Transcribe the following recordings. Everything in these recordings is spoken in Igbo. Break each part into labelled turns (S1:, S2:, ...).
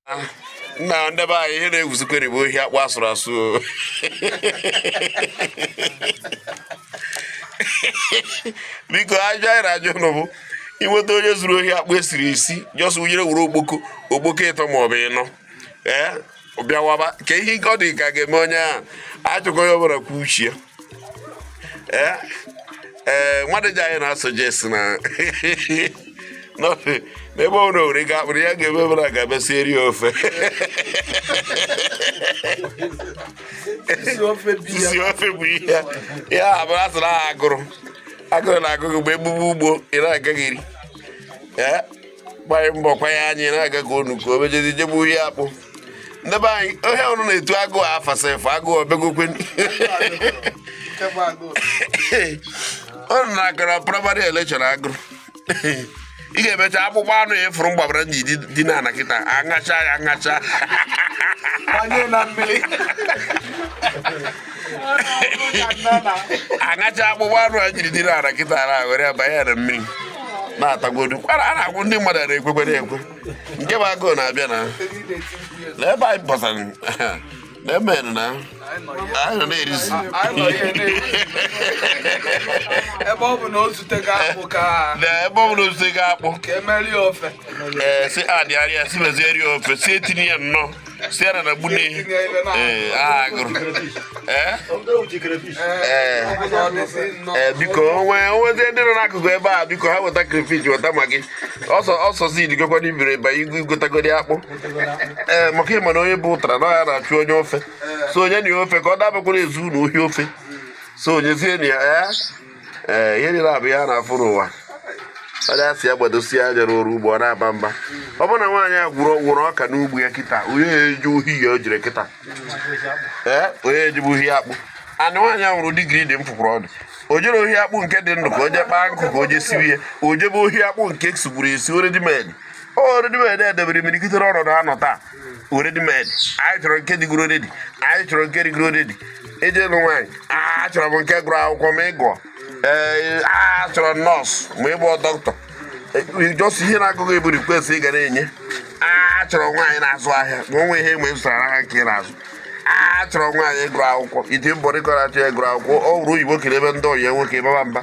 S1: ah, nna ndị be anyị ihe na-ewuzikwa bụ ohi akpụ a sụrụ asụ biko ajụ anyị na-ajụ ụnụ bụ i nweta onye zuru ohi akpụ e siri esi jọs wunyere were okpoko okpoko ịtọ maọbụ ịnọ ee eh, bịawaba ka ihe ọ dị ka ga-eme onye ahụ achọkọ ya ọ bụrụkwa uche ee ee nwadịja anyị na-asuggest na n'ofe n'ebe ọ bụla o were ga-akpụrụ ya ga-eme ebe na ga-abịa sieri ya ofe Isi ofe bi ya. isi ofe bụ ihe ya ya abụrụ asụrụ ahụ agụrụ agụrụ na-agụ gị mgbe egbugbu ugbo ị na-agaghị eri ee gbanụ mbọ kwanye anyị na-aga ka unu ka obejezi jebe ohi akpụ ndị be anyị ohe ọrụ na etu agụụ afasa efe agụụ o begokwa ọrụ na-agara praịmarị elekshọn agụrụ ị ga-emecha akpụkpọ anụ ya efuru mgbabara ji dị n'ana kịta aṅacha ya aṅacha a ṅachaa akpụkpọ anụ e jiri dịrị ana kịta ara were banye ya na mmiri na-atagodu kwara a na-agwụ ndị mmadụ na-ekwekwere ekwe nke bụ agụụ na-abịa na na ebe anyị pụtara na emen na anyị nọ na-erizi ebe ọ bụ na o zutego akpụ ka na ebe ọ bụla osite gị akpụ ka e mere ofe ee si adịgharịa si mezie rie ofe si etinye ya nnọọ siara na gbune ee aha gụrụ ee ee ee biko o nwe o nwezi ndị nọ n'akụkụ ebe a biko ha weta crayfish weta Maggi ọsọ ọsọ si digokwa n'ibiri ba igwe i gotagodi akpụ ee maka ịma na onye bu ụtara na ya na-achọ onye ofe so o nye na ya ofe ka ọ dabakwara ezuna ohi ofe so o nyezie na ya ee ee ihe niile a bụ ihe a na-afụ n'ụwa onye a sị ya gbadosie anya n'ọrụ ugbo ọ na-aba mba ọ bụrụ na nwaanyị a kụrụ kụrụ ọka n'ugbo ya kịta onye eje ohi o jere kịta ee onye ejebe ohi akpụ anị nwaanyị a nwere digiri dị mfụkwụrụ ọdụ o jere ohi akpụ nke dị ndụ ka o jee kpaa nkụ ka o jee siwe ya o jebe ohi akpụ nke e sigburu esi already made already made e debere imirikitiri ọnọdụ a nọ taa already made anyị chọrọ nke dịgoro already anyị chọrọ nke dịgoro already e jee ịnụ nwaanyị achọrọ m nke gụrụ akwụkwọ ma ị gụọ ee achọrọ nọọsụ ma ị bụ dọkịta jọs ihe na-agụ gị bụ request ị ga na-enye achọrọ nwaanyị na-azụ ahịa ma o nwee ihe ma ị zụtara n'aka nke ị na-azụ achọrọ nwaanyị gụrụ akwụkwọ iti mbọ dịkọrọ achọ ya gụrụ akwụkwọ ọ bụrụ oyibo kere ebe ndị ọyị nwoke baba mba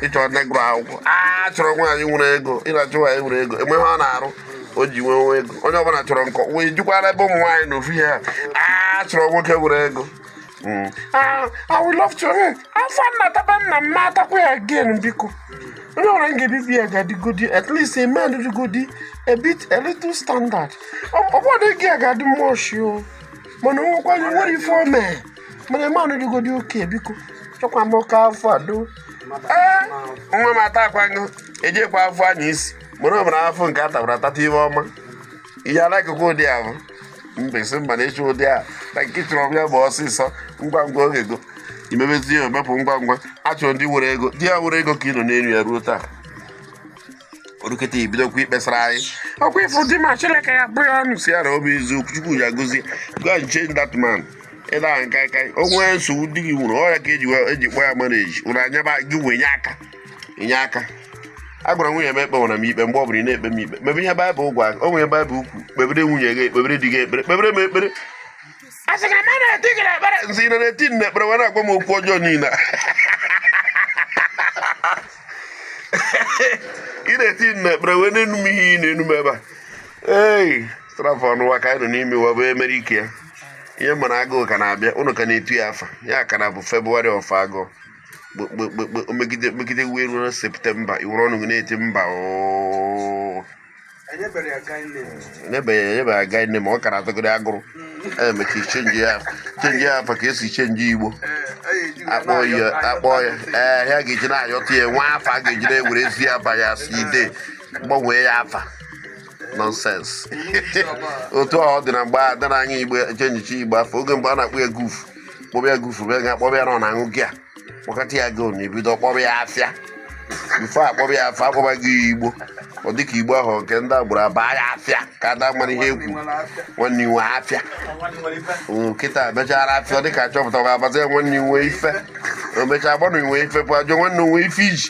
S1: ịchọ ndị gụrụ akwụkwọ a chọrọ nwaanyị nwere ego ị na-achọ nwaanyị nwere ego enwe ihe ọ na-arụ o ji nwee nwa ego onye ọbụla chọrọ nkọ wee jukwara ebe ụmụ nwaanyị na ofu ihe ha a chọrọ nwoke nwere ego Mm. Ah, I would love to. eh, Afụfụ nna taba nna m ma atakwa ya again biko. Onye ọbụla m ga-ebi be ya ga-adịgodi at least a man dịgodi a bit a little standard. Ọ ọ bụrụ na ego ya ga-adị much o mana o nwekwa nwere ife o mee. mana man ahụ dịgodi okay biko chọkwa m oke afọ a do ee nwa m atakwaghị ejikwa afụfụ anya isi mụrụ ọbụla afụfụ nke a tabara atata ihe ọma ihe alakụkọ ụdị ahụ mbesi mba na ịchụ ụdị a na nke chọrọ m ya bụ ọsịsọ ngwa ngwa oge go imebezi ya omepụ ngwa ngwa achọrọ m di nwere ego di ya nwere ego ka ị nọ n'elu ya ruo taa o rukete i bidokwa ikpesara anyị ọkwa ị fụ di m a chineke ya bụ ya ọnụ si ya na obi eziokwu chukwu ya gozie go and change that man ịda aṅụ kaikai o nwere nsogbu di gị nwere ọ ya ka eji wee- eji kpọ ya marriage ụra anya ba gị wee nye aka inye aka a gwara nwunye m ekpewana m ikpe mgbe ọ bụla ị na-ekpe m ikpe mebe ihe baịbụl gwa o nwere baịbụl kwu kpebere nwunye gị ekpebere di gị ekpere kpebere m ekpere a sị na mmadụ eti gị n'ekpere nzi na na-eti m n'ekpere wee na-agwa m okwu ọjọọ niile a. ị na-eti m n'ekpere wee na-enu m ihe ị na-enu m ebe a ei strafọ ọnwa ka anyị nọ n'ime ya bụ emere ike ya ihe mara agụụ ka na-abịanụ ka na-etu ya afa ya ka na bụ February of agụụ kpekpekpe megide megide wee ruo na September i were ọnụ gị na-eti mba oo enyebeghị ya guy name enyebeghị enyebeghị ya guy name ọ kara atụgịrị agụrụ emechi change ya change ya afa ka e si change igbo akpọ ya akpọ ya ee ha ga-eji na-ayọta ya nwa afa a ga-eji na-ewere ezi afa ya si ide gbanwee ya afa nonsense otu ọ dị na mgbe adara anya igbo changechi igbo afa oge mgbe a na-akpọ ya gufu kpọba ya gufu bịa ga akpọba ya na ọ na-aṅụ gị a kpọkọta ya gị na ebido kpọba ya afịa before akpọba ya afịa akpọbago ya igbo ọ dịka igbo ahụ nke ndị agboro abaa ya afịa ka ada mara ihe ekwu nwanne i nwe afịa kịta mechara afịa ọ dịka a chọpụtago abazi ya nwanne i nwe ife o mechaa gbanụ i nwe ife pụ ajọ nwanne i nwe ife iji